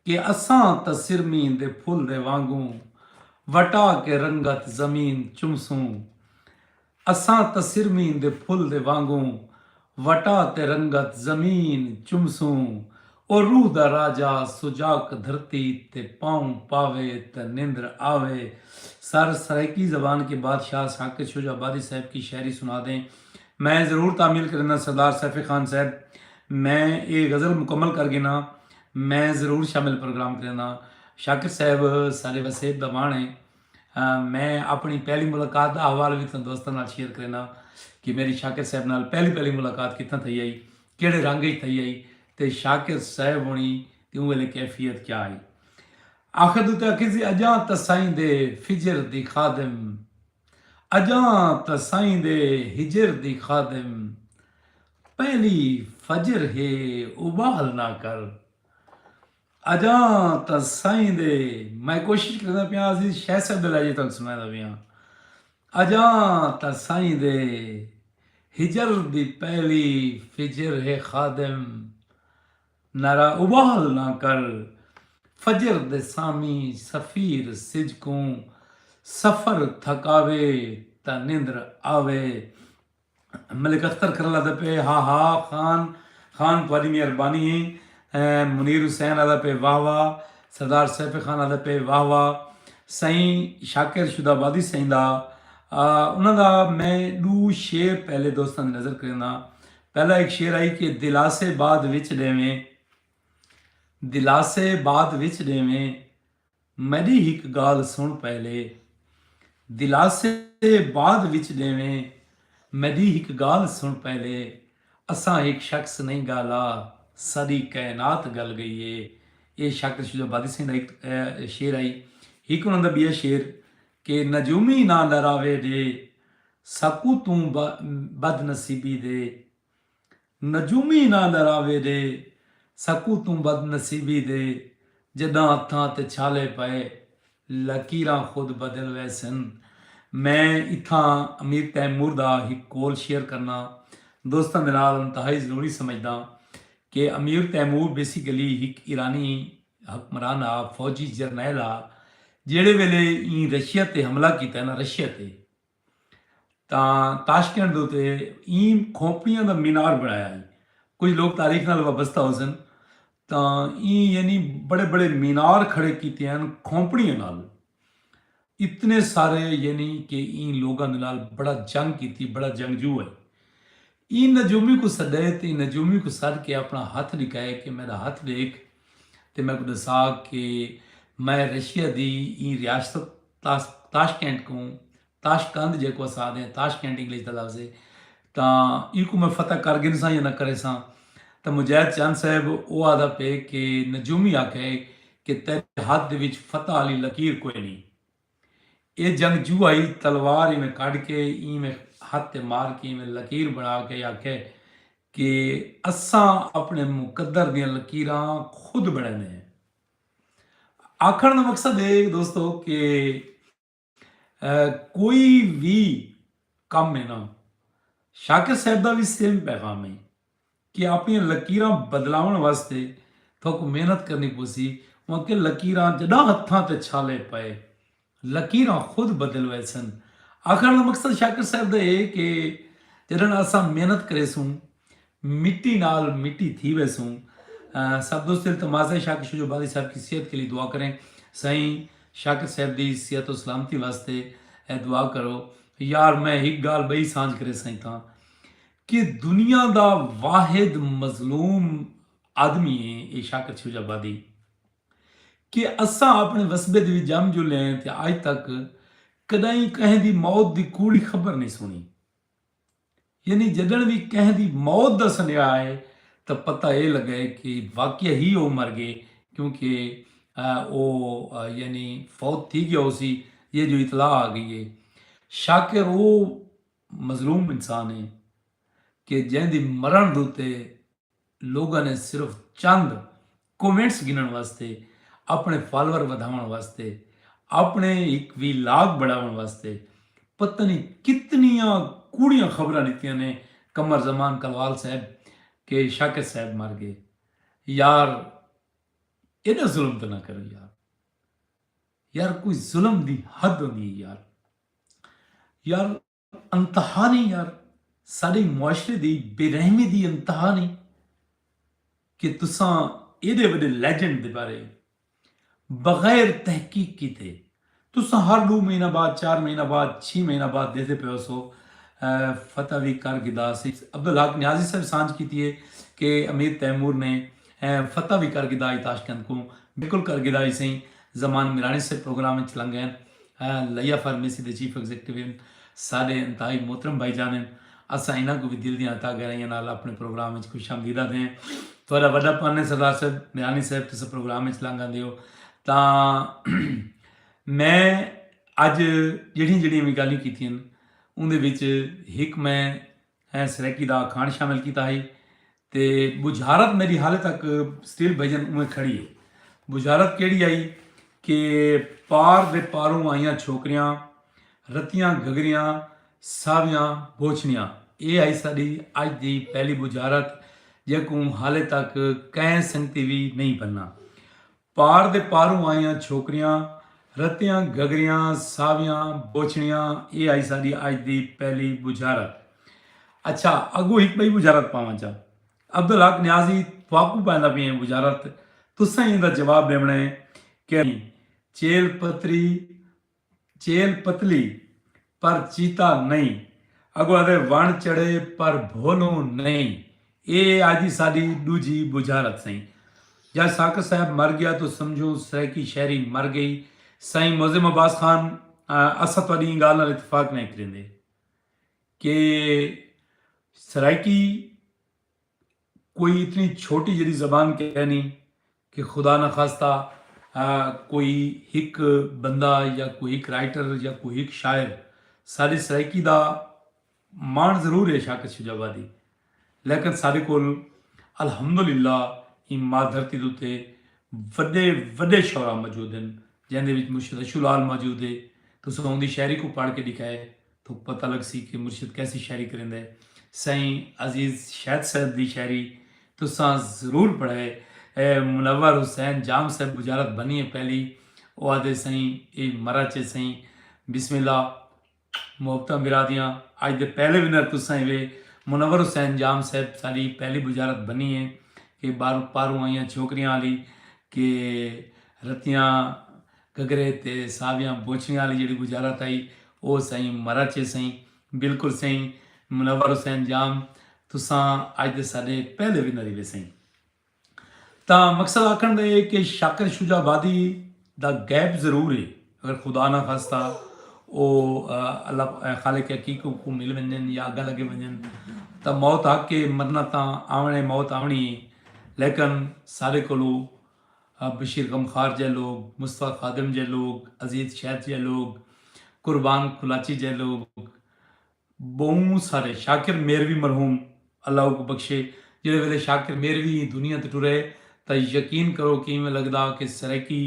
کہ اساں تاں سرمین دے پھل دے وانگوں وٹا کے رنگت زمین چمسوں۔ اساں تسرمین دے پھل دے وانگوں وٹا تے رنگت زمین چمسوں او روح دا راجہ سجاک دھرتی تے پاؤں پاوے تے نندر آوے سر سرائیکی زبان کے بادشاہ ساکت شجاع آبادی صاحب کی شاعری سنا دیں میں ضرور تعمیل کرینداں سردار سیف خان صاحب میں اے غزل مکمل کر گھناں میں ضرور شامل پروگرام کرینداں شاکر صاحب سارے وسیب دا وانڑ ہے میں اپݨی پہلی ملاقات دا احوال وی تساں دوستاں نال شیئر کرینداں کہ میݙی شاکر صاحب نال پہلی پہلی ملاقات کتھاں تھئی ہئی، کیڑھے رنگ اچ تھئی ہئی تے شاکر صاحب ہݨی دی اوں ویلے کیفیت کیا ہئی۔ آخر توں تاں آکھیسی اڄاں تسائیں دے فجر دی خادم، اڄاں تسائیں دے ہجر دی خادم، پہلی فجر ہے اٻال نہ کر۔ اجاں تاں سائیں دے میں کوشش کردا پیاں عزیز شیخ صاحب دے لہجے تانوں سنادا پیاں اجاں تاں سائیں دے ہجر دی پہلی فجر ہے خادم نعرہ ابال نہ کر فجر دے سامی سفیر سجکوں سفر تھکاوے تا نندر آوے ملک اختر کرن آدھا پئے ہا ہا خان خان تہاڈی مہربانی اے۔ منیر حسین آدھا پئے واہ واہ۔ سردار سیف خان آدھا پئے واہ واہ۔ سئیں شاکر شد آبادی سئیں دا انہاں دا میں ڈو شعر پہلے دوستاں دی نظر کرینداں ہاں۔ پہلا ہک شعر ہئی کہ دلاسے بعد وچ ڈیویں دلاسے بعد وچ ڈیویں۔ میݙی ہک ڳالھ سݨ پہلے دلاسے بعد وچ ݙیویں میݙی ہک ڳالھ سݨ پہلے اساں ہک شخص نئیں ڳالا ساری کائنات ڳل ڳئی اے اے شاکر شجاع بادسیں دا ہک شعر ہئی ہک انہاں دا ٻیا شعر کہ نجومی ناں ݙراوے ݙے ساکوں توں بد نصیبی دے نجومی ناں دا راوے دے سکوتوں بد نصیبی دے جݙاں ہتھاں تے چھالے پئے لکیراں خود بدل ویسن۔ میں اتھاں امیر تیمور دا ہک قول شیئر کرناں دوستاں دے نال انتہائی ضروری سمجھداں کہ امیر تیمور بیسیکلی ہک ایرانی حکمران ہا فوجی جرنیل ہا جیڑھے ویلے ایں رشیا تے حملہ کیتا نا رشیا تے تاں تاشکند دے اتے ایں کھوپڑیاں دا مینار بݨایا ہئی۔ کجھ لوک تاریخ نال وابستہ ہوسن تاں ایں یعنی بڑے بڑے مینار کھڑے کیتے ہن کھوپڑیاں نال۔ اتنے سارے یعنی کہ ایں لوکاں دے نال بڑا جنگ کیتی بڑا جنگجو ہئی۔ ایں نجومی کوں سڈئے تے ایں نجومی کوں سڈ کے اپنا ہتھ ڈکھائے کے میڈا ہتھ ڈیکھ تے میکوں ڈسا کے میں رشیا دی ایں ریاست تاشکینٹ کوں تاشقند جیکوں اساں آدھے ہیں تاشکینٹ انگلش دا لفظ ہے تاں ایکوں میں فتح کر گھنساں یا نہ کریساں تاں مجاہد چند صاحب او آدھا پے کے نجومی آکھئے کے تیڈے ہتھ دے وچ فتح آلی لکیر کوئنی۔ اے جنگجو آئی تلوار ایویں کڈھ کے ایویں ہتھ تے مار کے ایویں لکیر بنا کے آکھے کہ اساں اپنے مقدر دیاں لکیراں خود بنڑیندے ہیں۔ آکھنڑ دا مقصد اے دوستو کہ کوئی وی کم اے نا شاکر صاحب دا وی سیم پیغام اے کہ آپݨیاں لکیراں بدلاوݨ واسطے تہاکوں محنت کرݨی پوسی اوں کہ لکیراں جݙاں ہتھاں تے چھالے پئے لکیراں خود بدل ویسن۔ آکھݨ دا مقصد شاکر صاحب دا اے کہ جݙݨ اساں محنت کریسوں مٹی نال مٹی تھی ویسوں۔ سب دوست التماس ہے شاکر شجو بادی صاحب کی صحت کے لیے دعا کریں سائیں شاکر صاحب دی صحت و سلامتی واسطے دعا کرو یار میں ہک گال بئی سانجھ کرے سائیں تاں کہ دنیا دا واحد مظلوم آدمی ہے اے شاکر چھوج آبادی کہ اساں اپنے وسبے دے وچ جم جلے ہیں تے اج تک کڈائیں کہیں دی موت دی کوڑی خبر نہیں سنی یعنی جڈن وی کہیں دی موت دا سنیہا آئے تاں پتہ اے لگے کہ واقعہ ہی او مر گئے کیونکہ او یعنی فوت تھی گیا ہو سی یہ جو اطلاع آ گئی ہے شاکر او مظلوم انسان اے کہ جئیں دی مرݨ دتے لوگاں نے صرف چند کومنٹس گھنݨ واسطے اپݨے فالور ودھاوݨ واسطے اپݨے ہک وی لاگ بݨاوݨ واسطے پتہ نی کتنیاں کوڑیاں خبراں ݙتیاں نے قمر زمان کلوال صاحب کہ شاکر صاحب مر ڳئے یار ایݙا ظلم تاں نہ کرو یار یار کوئی ظلم دی حد ہوندی اے یار۔ یار انتہا نہیں یار ساڈے معاشرے دی بے رحمی دی انتہا نہیں کہ تساں ایڈے وڈے لیجنڈ دے بارے بغیر تحقیق کیتے تساں ہر ڈو مہینہ بعد چار مہینہ بعد چھ مہینہ بعد دیدے پے ہو سو فتح وی کر گدا سی عبدالحق نیازی صاحب سانج کیتی ہے کہ امیر تیمور نے فتح وی کر گدا ہی تاشکند کو بالکل کر گدا ہی سی زمان میرانی صاحب پروگرام اچ لنگے ہن۔ لیا فارمیسی دے چیف ایگزیکٹو ہن۔ ساڈے انتہائی محترم بھائی جان ہن۔ اساں انہاں کوں وی دل دیاں عطا گہرائیاں نال اپنے پروگرام اچ خوش آمدید آکھدے ہیں۔ تہاڈا وڈا پن ہے سردار صاحب، میرانی صاحب تساں پروگرام اچ لنگ آندے ہو تاں میں اج جیڑھیاں جیڑھیاں وی گالھیاں کیتیاں ہن اوندے وچ ہک میں ہیں سریکی دا کھانڈ شامل کیتا ہئی تے بجھارت میڈی حالے تک سٹیل بھجن اویں کھڑی ہے بجھارت کیڑی آئی کہ پار دے پاروں آئیاں چھوکریاں رتیاں گھگریاں ساویاں بوچھنیاں اے آئی ساڈی اج دی پہلی بجھارت جیکوں حالے تک کہیں سنگتی وی نہیں بننا پار دے پاروں آئیاں چھوکریاں رتیاں گھگریاں ساویاں بوچھڑیاں اے ہائی ساڈی اج دی پہلی بجھارت اچھا اگوں ہک بئی بجھارت پاواں چا عبدالحق نیازی تھواکوں پائندا پیاں بجھارت تساں ای ایندا جواب ڈیونڑاں اے کہ چیل پتری چیل پتلی پر چیتا نئیں اگو آدھے وݨ چڑھے پر بھولوں نئیں اے اج دی ساڈی ڈوجھی بجھارت سئیں جج ساکر صاحب مر گیا تو سمجھوں سرائیکی شاعری مر گئی سائیں معظم عباس خان اساں تہاڈی ایں گالھ نال اتفاق نئیں کریندے کہ سرائیکی کوئی اتنی چھوٹی جڑی زبان کہنی کہ خدا نخواستہ کوئی ہک بندہ یا کوئی ہک رائٹر یا کوئی ہک شاعر ساݙی سرائیکی دا ماݨ ضرور ہے شاکر شیوج آبادی لیکن ساݙے کول الحمد للہ ایں ماء دھرتی دے اتے وݙے وݙے شعراء موجود ہن جیندے وچ مرشد اشو لعل موجود ہے تساں اوندی شاعری کوں پڑھ کے ݙکھائے توں پتہ لگسی کہ مرشد کیسی شاعری کریندا ہے۔ سائیں عزیز شید صاحب دی شاعری تساں ضرور پڑھئے۔ منور حسین جام صاحب بجارت بنی ہے پہلی او آدھے سائیں اے مرا چے سائیں بسم اللہ محبتاں برا دیاں اج دے پہلے ونر تساں ہیوے منور حسین جام صاحب ساڈی پہلی بجارت بنی ہے کہ باروں پاروں آئیاں چھوکریاں آلی کہ رتیاں گھگھرے تے ساویاں بوچھڑیاں آلی جیڑھی وزارت ہئی او سئیں مرچ اے سئیں۔ بالکل سئیں منور حسین جام تساں اج دے ساڈے پہلے ونر ہیوے سئیں۔ تاں مقصد آکھن دا اے کہ شاکر شجاع آبادی دا غیب ضرور اے اگر خدا نہ خواستہ او اللہ خالق حقیق کوں مل ونجن یا اگاں لگے ونجن تاں موت حق اے مرنا تاں آوݨ اے موت آوݨی اے لیکن ساڈے کولوں بشیر غمخوار جئے لوگ، مصطفی خادم جئے لوگ، عزیز شیت جئے لوگ، قربان قلاچی جئے لوگ بہوں سارے شاکر میروی مرحوم اللہ اوکوں بخشے جیڑھے ویلے شاکر میروی ایں دنیا تے ٹرے تاں یقین کرو کہ ایویں لگدا کہ سرائیکی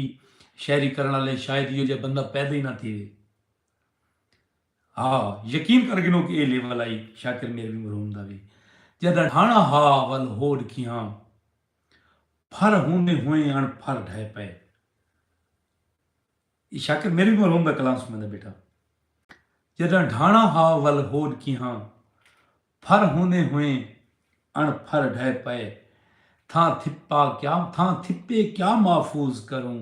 شاعری کرݨ آلے شاید ایہو جئے بندہ پیدا ای نہ تھیوے ہا یقین کر گھنو کہ اے لیول آئی شاکر میروی مرحوم دا وی جداں ڈھاݨا ہا ول ہو ڈکھیاں پھر ہوندیں ہوئیں اݨ پھر ڈھہہ پئے۔ اے شاکر میݙے کوں روندہ کلام سݨیندا ٻیٹھا۔ جݙاں ڈھاݨا ہا ول ہوݙ کیہاں۔ پھر ہوندیں ہوئیں اݨ پھر ڈھہہ پئے۔ تھاں تھپا کیا تھاں تھپے کیا محفوظ کروں۔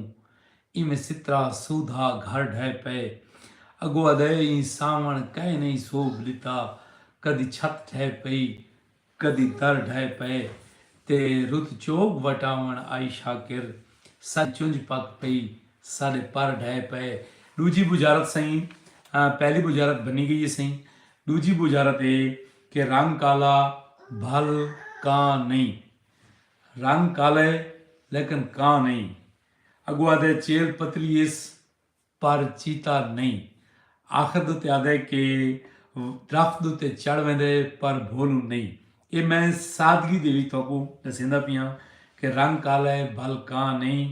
ایویں سترا سودھا گھر ڈھہہ پئے۔ اڳو آدھئے ایں ساوݨ کئے نئیں سوبھ ݙتا۔ کݙی چھت ڈھہہ پئی کدی در ڈھہہ پئے تے رت چوگ وٹاوݨ آئی شاکر ساݙی چنج پک پئی ساݙے پر ڈھہہ پئے ݙوجھی بجارت سئیں پہلی بجارت بھنی گئی ہے سئیں ݙوجھی بجارت اے کہ رنگ کالا بھل کاں نئیں رنگ کالا ہے لیکن کاں نئیں اڳو آہدے چیل پتلی ہیس پر چیتا نئیں۔ آخر دے اتے آہدے کہ درخت دے اتے چڑھ ویندے پر بھولوں نئیں۔ ایہ میں سادگی دے وچ تہاکوں ݙسیندا پیاں کہ رنگ کالا ہے بھل کاں نئیں،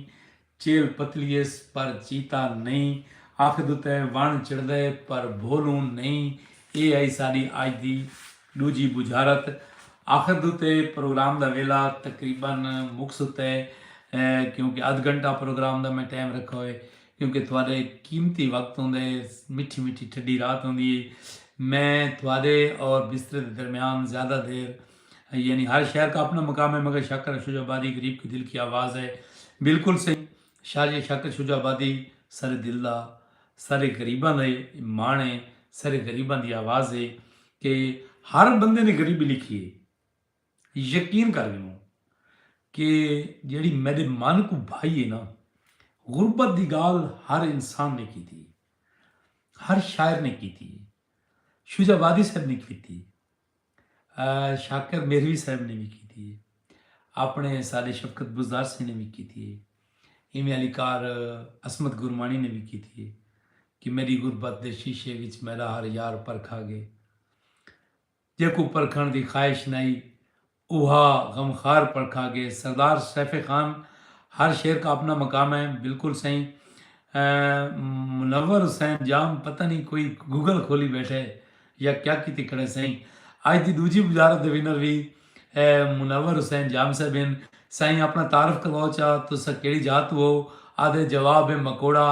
چیل پتلی ہیس پر چیتا نئیں، آخر دے اتے وݨ چڑھدا ہے پر بھولوں نئیں۔ ایہ ہئی ساݙی اڄ دی ݙوجھی ٻجھارت۔ آخر دے اتے پروگرام دا ویلھا تقریبا مک ستا ہے کیونکہ ادھ گھنٹہ پروگرام دا میں ٹائم رکھا ہوئے۔ کیونکہ تہاݙے قیمتی وقت ہوندے، مٹھی مٹھی ٹھڈی رات ہوندی ہئی، میں تہاݙے اور بسترے دے درمیان زیادہ دیر یعنی ہر شہر کا اپنا مقام ہے مگر شاکر اور شجاع آبادی غریب کے دل کی آواز ہے بالکل صحیح شاجی شاکر شجاع آبادی سارے دل دا سارے غریباں دے ماݨ ہے سارے غریباں دی آواز ہے کہ ہر بندے نے غریبی لکھی ہے۔ یقین کر گھنوں کہ جیڑھی میڈے من کوں بھائی ہے نا غربت دی گال ہر انسان نے کیتی ہر شاعر نے کیتی شجا وادی صاحب نے کیتی شاکر میروی صاحب نے بھی کیتی اپنے سارے شفقت بزدار سے نے بھی کیتی ایویں علی کار عصمت گرمانی نے بھی کیتی کہ میری غربت دے شیشے وچ میرا ہر یار پرکھا گئے جیکوں پرکھنڑ دی خواہش نہ ہئی اوہا غمخوار پرکھا گئے۔ سردار سیف خان ہر شعر کا اپنا مقام ہے بالکل سئیں منور حسین جام پتہ نی کوئی گوگل کھولی بیٹھے یا کیا کیتی کھڑے سئیں اج دی ڈوجھی وزارت دے ونر وی منور حسین جام صاحب ہن سائیں اپنا تعارف کرواؤ چا تساں کیڑی جاہ توں ہو آدھے جواب ہے مکوڑا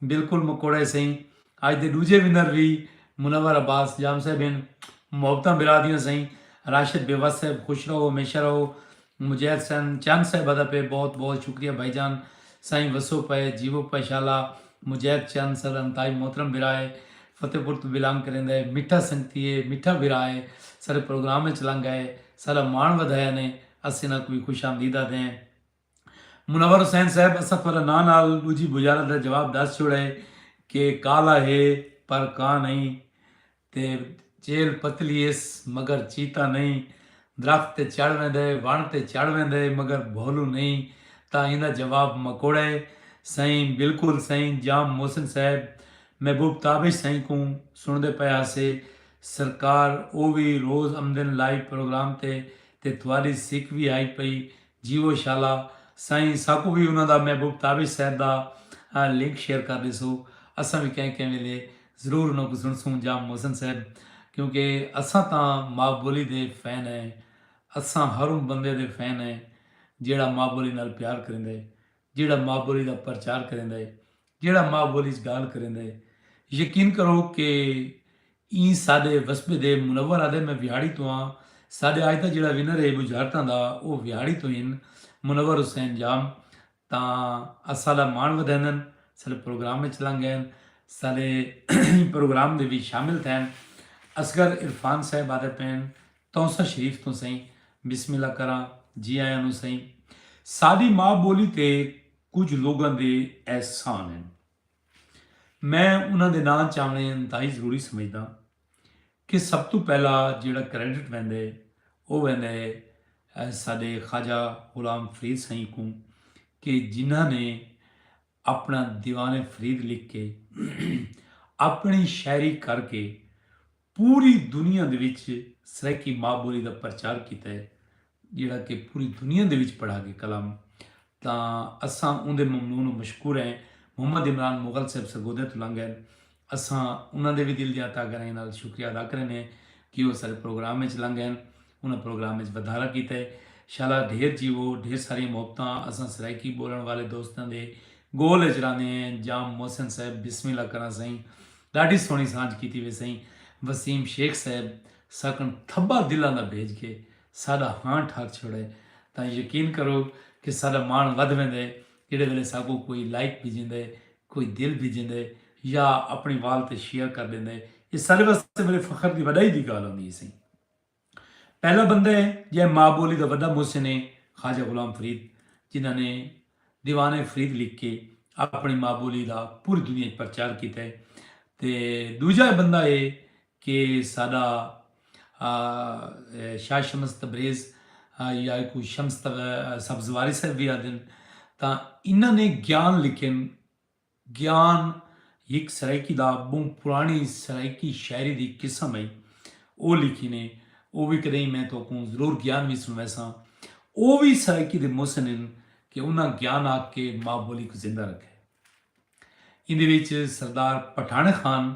بالکل مکوڑے سئیں اج دے ڈوجھے ونر وی منور عباس جام صاحب ہن۔ محبتاں برا دیاں سئیں۔ راشد بیوس صاحب خوش رہو ہمیشہ رہو۔ مجید حسین چن صاحب ادا پے بہت بہت شکریہ بھائی جان۔ سائیں وسو پئے جیوو پئے شالا۔ مجید چن سر انتہائی محترم بھرا ہے۔ فتح پور توں بلانگ کریندا ہے۔ میٹھا سنگتی ہے۔ میٹھا بھرا ہے۔ سارے پروگرام اچ لنگ آئے۔ سارا ماݨ ودھایا نے۔ اسیں انہاں کوں وی خوش آمدید آدھے ہیں۔ منور حسین صاحب اساں تہاڈا ناں نال ڈوجھی بجارت دا جواب ڈس چھوڑا ہے کہ کالا ہے پر کاں نئیں تے چیل پتلی ہس مگر چیتا نئیں درخت تے چڑھ ویندا ہے وݨ تے چڑھ ویندا ہے مگر بھولو نئیں تاں ایندا جواب مکوڑا ہے سئیں بالکل سئیں جام محسن صاحب محبوب تابش سئیں کوں سݨدے پئے ہاسے سرکار او وی روز امدن لائیو پروگرام تے تے تہاڈی سک وی ہائی پئی جیوو شالا سائیں ساکوں وی انہاں دا محبوب تابش صاحب دا لنک شیئر کر ݙیسو اساں وی کہیں کہیں ویلے ضرور انہاں کوں سݨسوں جام محسن صاحب کیونکہ اساں تاں ماء ٻولی دے فین ہیں اساں ہر اوں بندے دے فین ہیں جیہڑا ماء ٻولی نال پیار کریندے جیہڑا ماء ٻولی دا پرچار کریندے جیڑھا ماء ٻولی اچ ڳالھ کریندا ہے۔ یقین کرو کہ ایں ساݙے وسبے دے منور آہدے میں ویہاڑی توں آں ساݙے اڄ دا جیڑھا ونر ہے ٻجھارتاں دا او ویہاڑی توں ہن منور حسین جام تاں اساݙا ماݨ ودھیندن ساݙے پروگرام اچ لنگھ ڳئن ساݙے ایں پروگرام دے وی شامل تھئن اصغر عرفان صاحب آہدے پئن تونسہ شریف توں سئیں بسم اللہ کراں جی آیاں نوں سئیں ساݙی ماء ٻولی تے کجھ لوگاں دے احسان ہن میں انہاں دے ناں چاونے انتہائی ضروری سمجھداں کہ سب تو پہلا جیڑا کریڈٹ ویندا ہے او ویندا ہے ساڈے خواجہ غلام فرید سائیں کوں کہ جنہاں نے اپنا دیوان فرید لکھ کے اپنی شاعری کر کے پوری دنیا دے وچ سرائیکی ماء ٻولی دا پرچار کیتا ہے جیڑھا کہ پوری دنیا دے وچ پڑھا گئے کلام تاں اساں اوندے ممنون و مشکور ہیں محمد عمران مغل صاحب سرگودھیاں توں لنگھ ہن اساں انہاں دے وی دل دیاں تہہ گہرائیاں نال شکریہ ادا کریندے ہیں کہ او اساڈے پروگرام وچ لنگھ ہن۔ انہاں پروگرام اچ ودھارا کیتا ہے۔ شالا ڈھیر جیوو، ڈھیر ساریاں محبتاں، اساں سرائیکی بولنڑ والے دوستاں دے گول اچ رہندے ہیں، انجام محسن صاحب بسم اللہ کراں سئیں، ڈاڈھی سوہنڑی سانجھ کیتی وے سئیں، وسیم شیخ صاحب ساکنڑ تھبا دلاں دا بھیج کے ساڈا ہاں ٹھاک چھوڑے تاں یقین کرو کہ ساڈا ماݨ ودھ ویندے جیڑھے ویلے ساکوں کوئی لائک بھیجیندے، کوئی دل بھیجیندے یا اپنڑی وال تے شیئر کر ڈیندے، ایہ ساڈے واسطے بڑے فخر دی وڈائی دی گالھ ہوندی ہے سئیں۔ پہلا بندہ ہے جئیں ماء بولی دا وڈا محسن ہے خواجہ غلام فرید جنہاں نے دیوان فرید لکھ کے اپنی ماء بولی دا پوری دنیا اچ پرچار کیتا ہے تے دوجا ہے بندہ ہے کہ ساڈا شاہ شمس تبریز یا کو شمس سبزواری صاحب بھی آدن تاں انہاں نے گیان لکھن گیان ہک سرائیکی دا ٻہوں پراݨی سرائیکی شاعری دی قسم ہئی۔ او لکھیندے، او وی کݙاہیں میں تہاکوں ضرور گیان وی سݨویساں۔ او وی سرائیکی دے محسن ہن کہ انہاں گیان آکھ کے ماء ٻولی کوں زندہ رکھئے۔ ایندے وچ سردار پٹھاݨ خان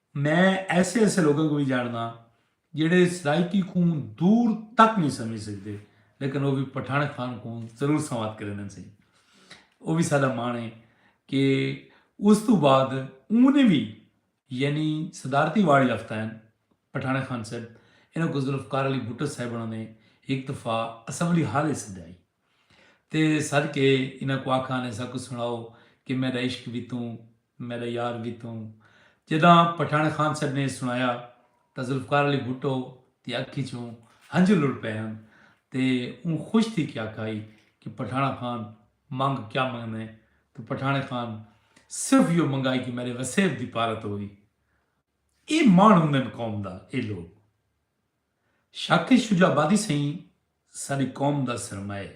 میں ایسے ایسے لوگاں کوں وی جانڑداں جیہڑے سرائیکی کوں دور تک نی سمجھ سگدے لیکن او وی پٹھاݨ خان کوں ضرور سنواد کریندن سئیں او وی ساڈا مان ہے کہ اس توں بعد اونے وی یعنی صدارتی ایوارڈ یافتہ ہیں پٹھاݨ خان صاحب انہاں کوں ذوالفقار علی بھٹو صاحب انہاں نے ہک دفعہ اسمبلی ہال اچ سدائی تے سد کے انہاں کوں آکھا نے ساکوں سنڑاؤ کہ میڈا عشق وی توں میݙا یار گیتوں جݙاں پٹھاݨ خان صاحب نے سݨایا تاں ذوالفقار علی بھٹو دی اکھ اچوں ہنجو لڑ پئے ہن تے اوں خوش تھی کے آکھائی کہ پٹھاݨ خان منگ کیا منگدیں تاں پٹھاݨ خان صرف ایہو منگائی کہ میݙے وسیب دی پارت ہووی۔ اے ماݨ ہوندن قوم دا اے لوک شاکر شجاع آبادی سئیں ساݙی قوم دا سرمایہ ہے۔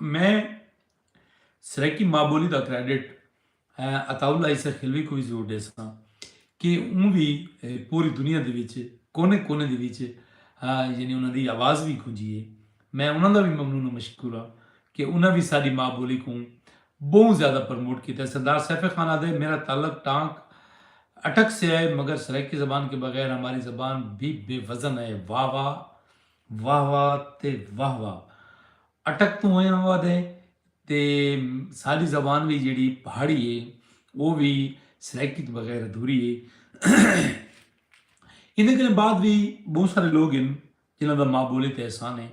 میں سرائیکی ماں بولی دا کریڈٹ عطا اللہ عیسی خلوی کو بھی ضرور دے سکاں کہ اوں بھی پوری دنیا دے وچ کونے کونے دے وچ یعنی انہاں دی آواز بھی گونجی ہے میں انہاں دا بھی ممنون و مشکور ہاں کہ انہاں بھی ساری ماں بولی کو بہت زیادہ پروموٹ کیتا ہے سردار سیف خان آدھے میرا تعلق ٹانک اٹک سے ہے مگر سرائیکی زبان کے بغیر ہماری زبان بھی بے وزن ہے واہ واہ واہ واہ تے واہ واہ اٹک توں ہویاں ہوا دے تے ساڈی زبان وی جیڑی پہاڑی ہے او وی سرائیکی تو بغیر ادھوری ہے ایندے کنے بعد وی بہت سارے لوگ ہیں جنہاں دا ماں بولی تے احسان ہے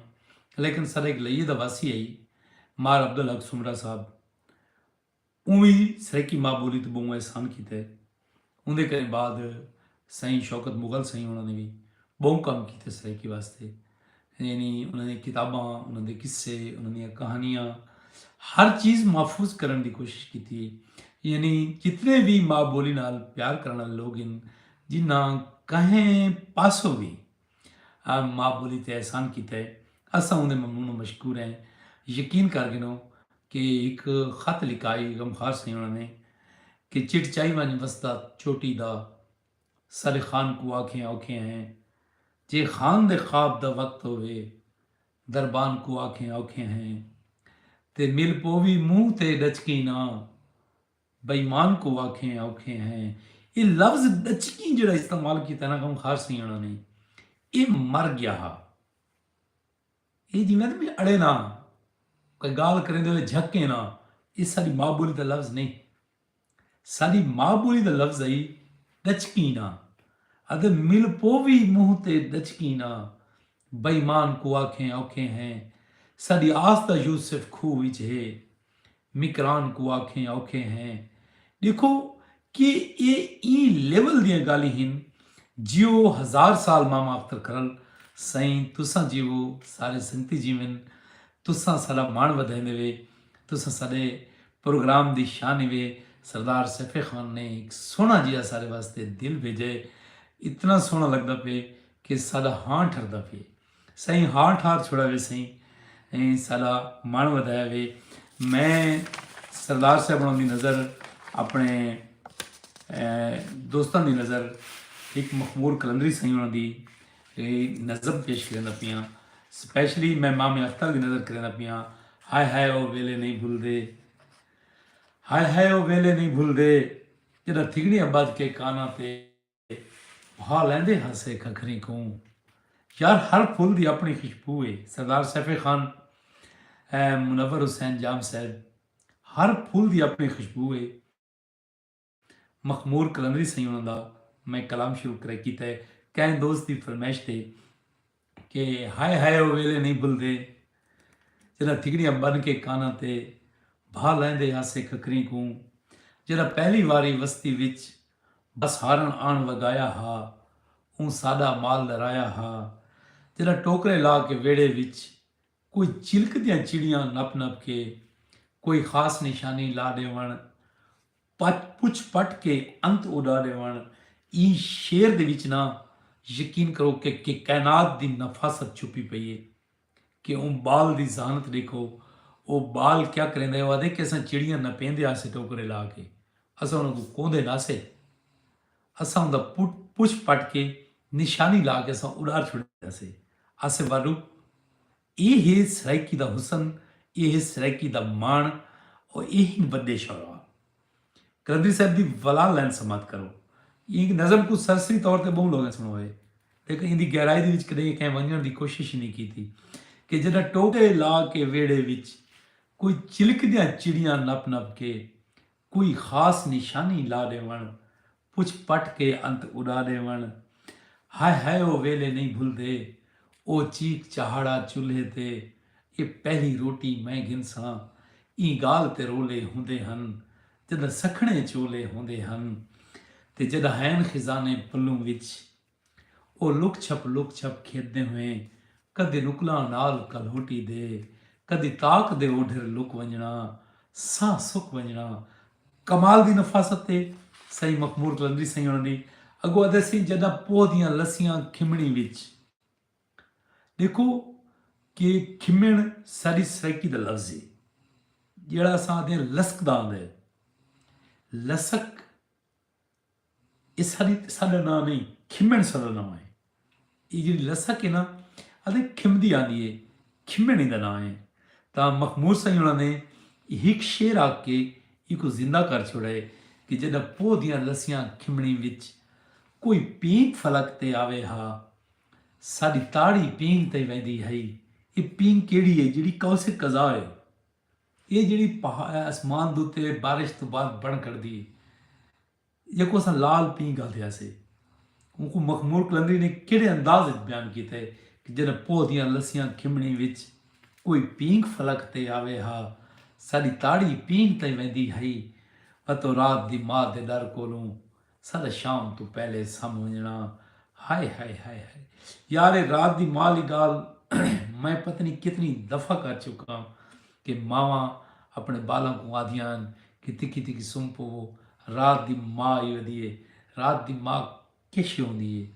لیکن سارے ایک لئیے دا واسی ہے مار عبدالحق سمرا صاحب اوویں سرائیکی ماء بولی تے بہوں احسان کیتے۔ اوندے کہیں بعد سائیں شوکت مغل سائیں ہونا نے وی بہوں کم کیتے سرائیکی واسطے۔ یعنی انہاں دیاں کتاباں، انہاں دے قصے، انہاں دیاں کہانیاں ہر چیز محفوظ کرݨ دی کوشش کیتی ہے۔ یعنی جتنے وی ماء بولی نال پیار کرݨ آلے لوگ ہن جنہاں کہیں پاسوں وی ماء بولی تے احسان کیتا ہے اساں اوندے ممنون و مشکور ہیں یقین کر گھنو کہ ہک خط لکھا ہئی غمخوار سئیں ہونا نے کہ چٹ چائی ونج وسدا چوٹی دا سارے خان کوں آکھیں اوکھے ہیں جے خان دے خواب دا وقت ہووے دربان کوں آکھیں اوکھے ہیں تے مل پووی منہ تے ڈچکیں نہ بے ایمان کوں آکھیں اوکھے ہیں اے لفظ ڈچکیں جیڑھا استعمال کیتا انہاں کوں خاص سیاݨا نئیں اے مر گیا ہا اے جیویں آندے نے اڑے ناں کوئی گالھ کریندے ہوئے جھکیں ناں اے ساڈی ماء بولی دا لفظ نئیں ساڈی ماء بولی دا لفظ ہئی ڈچکیں ناں اتے مل پووی منہ تے ڈچکیں ناں بے ایمان کوں آکھیں اوکھے ہیں ساڈی آس دا یوسف کھوہ وچ ہے مکران کوں آکھیں اوکھے ہیں ڈیکھو کہ اے ایں لیول دیاں گالھیں ہن جیو ہزار سال ماما اختر کرل سئیں تساں جیوو سارے سنگتی جیون تساں ساڈا مان ودھائیندے وے تساں ساڈے پروگرام دی شان ہی وے سردار سیفع خان نے ہک سوہنا جیہا سارے واسطے دل بھیجا ہے اتنا سوہنا لگدا پئے کہ ساڈا ہاں ٹھردا پیے سائیں ہاں ٹھار چھوڑا وے سائیں ایں ساڈا من ودایا وے میں سردار صاحب دی نظر اپنے دوستاں دی نظر ایک مخمور کلندری سائیں انہاں دی نظم پیش کرنا پیاں سپیشلی میں ماں میں اختر دی نظر کرنا پیاں ہائے ہائے او ویلے نہیں بھول دے ہائے ہائے او ویلے نہیں بھول دے جدا تھگڑی آباد کے کانا تے بھا لیندے ہاسے ککھریں کوں یار ہر پھل دی اپنی خشبو ہے سردار سیف خان منور حسین جام صاحب ہر پھول دی اپنی خوشبو ہے مخمور کلندری سیوں دا میں کلام شروع کرے کیتا ہے کہیں دوست دی فرمائش تے کہ ہائے ہائے او ویلے نئیں بھلدے جݙاں تھڳڑیاں ٻن کے کاناں تے بھا لائیندے ہاسے ککریں کوں جیڑھا پہلی واری وستی وچ بس ہارݨ آݨ وڳایا ہا اوں ساݙا مال ݙرایا ہا جݙاں ٹوکرے لا کے ویڑھے وچ کوئی چلکدیاں چڑیاں نپ نپ کے کوئی خاص نشانی لا ݙیوݨ پچ پچھ پٹ کے انت اوڈا ڈیون ایں شعر دے وچ نہ یقین کرو کہ کہ کائنات دی نفاست چھپی پئی ہے کہ اوں بال دی ذہانت ڈیکھو او بال کیا کریندا ہے او آدھے کہ اساں چڑیاں نپیندے آسے ٹوکرے لا کے اساں انہاں کوں کوندے نہ سے اساں اوندا پٹ پچھ پٹ کے نشانی لا کے اساں اڈار چھوڑیندے آسے آسے والو اے ہے سرائیکی دا حسن، اے ہے سرائیکی دا ماݨ او اے ہن وݙے شعراء۔ قلندری صاحب دی ولا لائن سماعت کرو۔ ایں نظم کوں سرسری طور تے ٻہوں لوکیں سݨوئے لیکن ایندی گہرائی دے وچ کݙیہہ کہیں ونڄݨ دی کوشش ای نھیں کیتی کہ جݙاں ٹوکے لا کے ویڑھے وچ کوئی چلکدیاں چڑیاں نپ نپ کے کوئی خاص نشانی لا ݙیوݨ۔ پچھ پٹ کے انت اݙا ݙیوݨ۔ ہائے ہائے او ویلے نئیں بھلدے۔ او چیک چہاڑا چولھے تے۔ اے پہلی روٹی میں گھنساں۔ ایں ڳالھ تے رولے ہوندے ہن۔ جݙاں سکھݨے چولے ہوندے ہن۔ تے جݙاں ہئین خزانے پلوں وچ۔ او لک چھپ لک چھپ کھیݙدے ہوئیں کدی رکلاں نال کلہوٹی دے کدی طاق دے اوڈھر لک ونڄݨا ساہ سک ونڄݨا کمال دی نفاست اے سئیں مخمور قلندری سئیں ہوݨاں دی اڳوں آہدے سئیں جݙاں پوہ دیاں لسیاں کھمݨی وچ ݙیکھو کہ کھمݨ ساݙی سرائیکی دا لفظ اے جیڑھا اساں آہدے لسکدا آندا اے لسک اے ساݙی تے ساݙا ناں نئیں، کھمݨ ساݙا ناں اے۔ اے جیڑھی لسک اے نا، آندے کھمدی آندی اے، کھمݨ ایندا ناں اے۔ تاں مخمور سئیں ہوݨاں نے ہک شعر آکھ کے ایکوں زندہ کر چھوڑا اے کہ جݙاں پو دیاں لسیاں کھمݨیں وچ کوئی پینک فلک تے آوے ہا، ساݙی تاڑی پینک تئیں ویندی ہئی۔ اے پینک کیڑھی اے جیڑھی قوس قزح اے۔ ایہ جیڑھی اسمان دے اتے بارش توں بعد بݨ کھڑدی ہے جیکوں اساں لال پینگ آندے ہاسے اونکوں مخمور قلندری نے کیڑھے انداز وچ بیان کیتا ہے کہ جݙاں پوہ دیاں لسیاں کھمݨیں وچ کوئی پینگ فلک تے آوے ہا ساݙی تاڑی پینگ تئیں ویندی ہئی اتوں رات دی ماء دے ݙر کولوں سدا شام توں پہلے سم ونجنا ہائے ہائے ہائے ہائے یار اے رات دی ماں آلی گال میں پتہ نہیں کتنی دفعہ کر چکا کہ ماواں اپنے بالاں کو آدھیاں کہ تکی تکی سم پوو رات دی ماں آئی ودی ہے رات دی ماں کیشے ہوندی ہے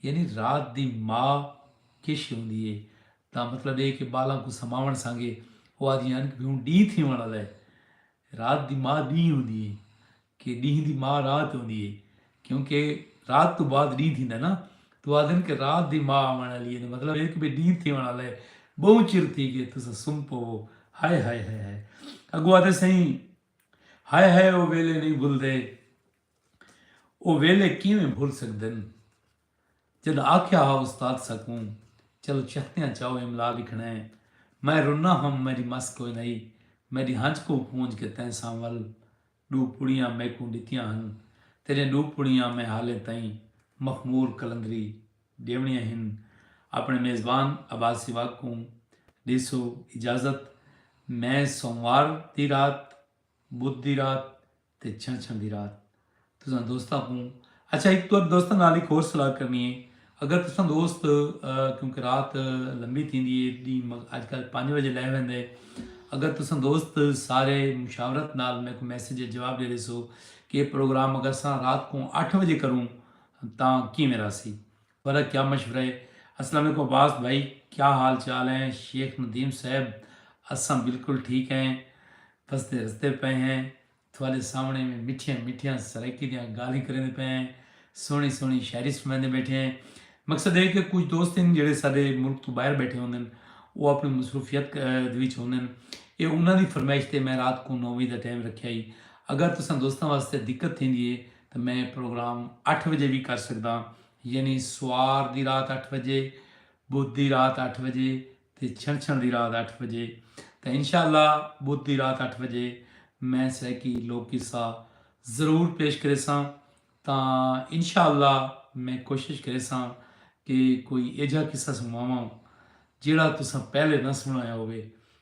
یعنی رات دی ما کش ہوندی اے دا مطلب اے کہ بالاں کوں سماوݨ سانگے او آدھیاں ہن کہ ہن ݙینہہ تھیوݨ آلا اے۔ رات دی ما ݙینہہ ہوندی اے کہ ݙینہہ دی ما رات ہوندی اے کیونکہ رات توں بعد ݙینہہ تھیندا نا تاں او آدھن کہ رات دی ما آوݨ آلی اے دا مطلب اے کہ بھئی ݙینہہ تھیوݨ آلا اے ٻہوں چر تھی ڳئے تساں سم پوو ہائے ہائے ہائے ہائے اڳوں آدھے سئیں ہائے ہائے او ویلے نئیں بھلدے۔ او ویلے کیویں بھل سڳدن جݙاں آکھیا ہا استاد ساکوں چلو چہتیاں چاؤ املا لکھݨا ہے میں رنا ہم میݙی مس کوئن ہئی میݙی ہنج کوں پونج کے تیں ساں ول ݙو پڑیاں میکوں ݙتیاں ہن تیݙیاں ݙو پڑیاں میں حالیں تئیں مخمور قلندری ݙیوݨیاں ہن اپݨے میزبان عباس سواڳ کوں ݙیسو اجازت میں سوموار دی رات بدھ دی رات تے چھنچھن دی رات تساں دوستاں کوں اچھا ہک تو دوستاں نال ہک ہور صلاح کرنی ہے اگر تساں دوست کیونکہ رات لمبی تھیندی ہے دی اج کل پانچ بجے لے ویندے اگر تساں دوست سارے مشاورت نال میں کو میسج جواب دے دیسو کہ پروگرام اگر ساں رات کو اٹھ بجے کروں تاں کیویں راسی برا کیا مشورہ ہے۔ السلام علیکم عباس بھائی کیا حال چال ہیں شیخ ندیم صاحب اساں بالکل ٹھیک ہیں وسدے رسدے پئے ہیں تھوالے سامنے میں مٹھیاں مٹھیاں سرائیکی دیاں گالھیں کریندے پئے ہیں سوہنی سوہنی شاعری سنڑاندے بیٹھے ہیں مقصد ہے کہ کچھ دوست ہیں جڑے سارے ملک تو باہر بیٹھے ہوندے ہیں وہ اپنی مصروفیت دے وچ ہوندے ہیں اے انہاں دی فرمائش تے میں رات کو نو وجے دا ٹائم رکھیا ہی اگر تساں دوستاں واسطے دقت تھیندی ہے تاں میں پروگرام اٹھ وجے وی کر سگداں یعنی سوار دی رات اٹھ وجے بدھ دی رات اٹھ وجے تے چھنچھن دی رات اٹھ وجے تاں انشاء اللہ بدھ دی رات اٹھ وجے میں سرائیکی لوک قصہ ضرور پیش کریساں تاں انشاء اللہ میں کوشش کریساں کہ کوئی ایجھا قصہ سنواواں جیڑھا تساں پہلے نہ سنڑایا ہووے